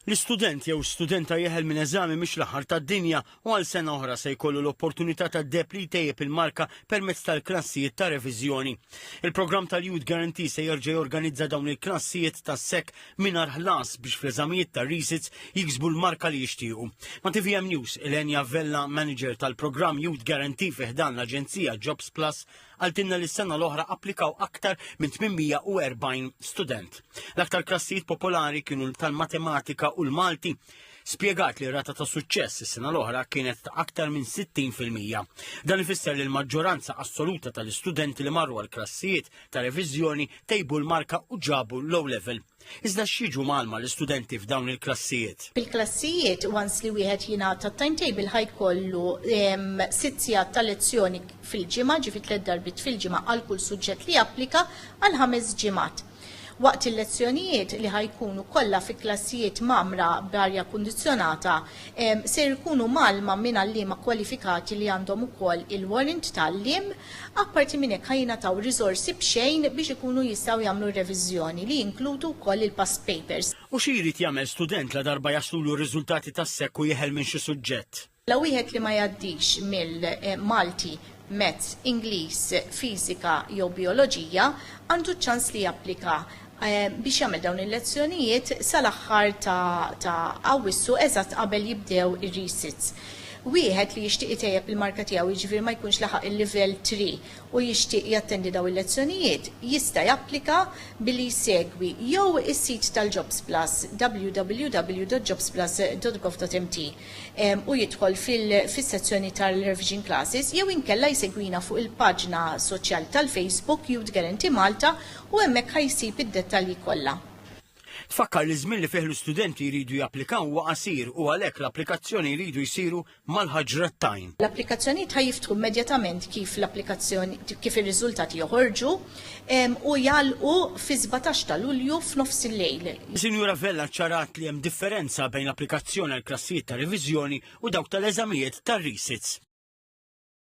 L-istudent jew studenta jeħel minn eżami mhix l-aħħar tad-dinja u għal sena oħra se jkollu l-opportunità tad-deheb li jtejjeb il-marka permezz tal-klassijiet ta' reviżjoni. Il-programm tal-Youth Guarantee se jerġa' jorganizza dawn il-klassijiet tas-sek mingħajr ħlas biex fl-eżamijiet ta' resits jiksbu l-marka li jixtiequ. Ma' TVM News, Elenja Vella, manager tal-programm Youth Guarantee fi ħdan l-aġenzija Jobs Plus, Qaltilna li s-sena l-oħra applikaw aktar minn 840 student. L-aktar klassijiet popolari kienu tal-matematika u l-Malti. Spjegat li r-rata ta' suċċess is-sena l-oħra kienet ta' aktar minn 60%. Dan ifisser li l-maġġoranza assoluta tal-istudenti li marru għal klassijiet ta' reviżjoni tejbu l-marka u ġabu low level. Iżda x'jiġu mgħallma l-istudenti f'dawn il-klassijiet? Bil-klassijiet, once li wieħed jingħata t-timetable ħaj kollu sitt sigħat ta' lezzjoni fil-ġimgħa, ġifi tliet darbiet fil-ġimgħa għal kull suġġett li japplika għal ħames ġimgħat. Waqt il-lezzjonijiet li ħaj jkunu kollha fi klassijiet mgħammra b'arja kundizzjonata, ser ikunu mgħallma minn għalliema kwalifikati li għandhom ukoll il-warrant ta' għalliem, Apparti minn hekk ħa jingħataw riżorsi b'xejn biex ikunu jistgħu jagħmlu r-reviżjoni, li jinkludu wkoll il-past papers. U xi jrid jagħmel student ladarba jaslulu r-riżultati tas-SEC u jeħel minn xi suġġett? La wieħed li ma jgħaddix mill, Malti, Maths, Ingliż, Fiżika jew Bijoloġija għandu ċ-ċans li japplika biex jagħmel dawn il-lezzjonijiet sal-aħħar ta' Awwissu eżatt qabel jibdew ir-resits. Wieħed li jixtieq itejjeb il-marka tiegħu jiġifieri ma jkunx laħaq il-Livell Three u jixtieq jattendi dawn il-lezzjonijiet jista' japplika billi jsegwi jew is-sit tal-JobsPlus www.jobsplus.gov.mt u jidħol fis-sezzjoni tal-Revision Classes jew inkella jsegwina fuq il-paġna soċjali tal-Facebook Youth Guarantee Malta u hemmhekk ħa jsib id-dettalji kollha. Tfakkar li ż-żmien li fih l-istudenti jridu japplikaw huwa qasir u għalhekk l-applikazzjoni jridu jsiru mal-ħaġra t-tajn. L-applikazzjonijiet ħa jiftħu immedjatament kif l-applikazzjoni kif ir-riżultati joħorġu u jagħlqu fis-sbatax ta' Lulju f'nofs il-lejl. Sinjura Vella ċċarat li hemm differenza bejn l-applikazzjoni għall-klassijiet ta' reviżjoni u dawk tal-eżamijiet tar-resits.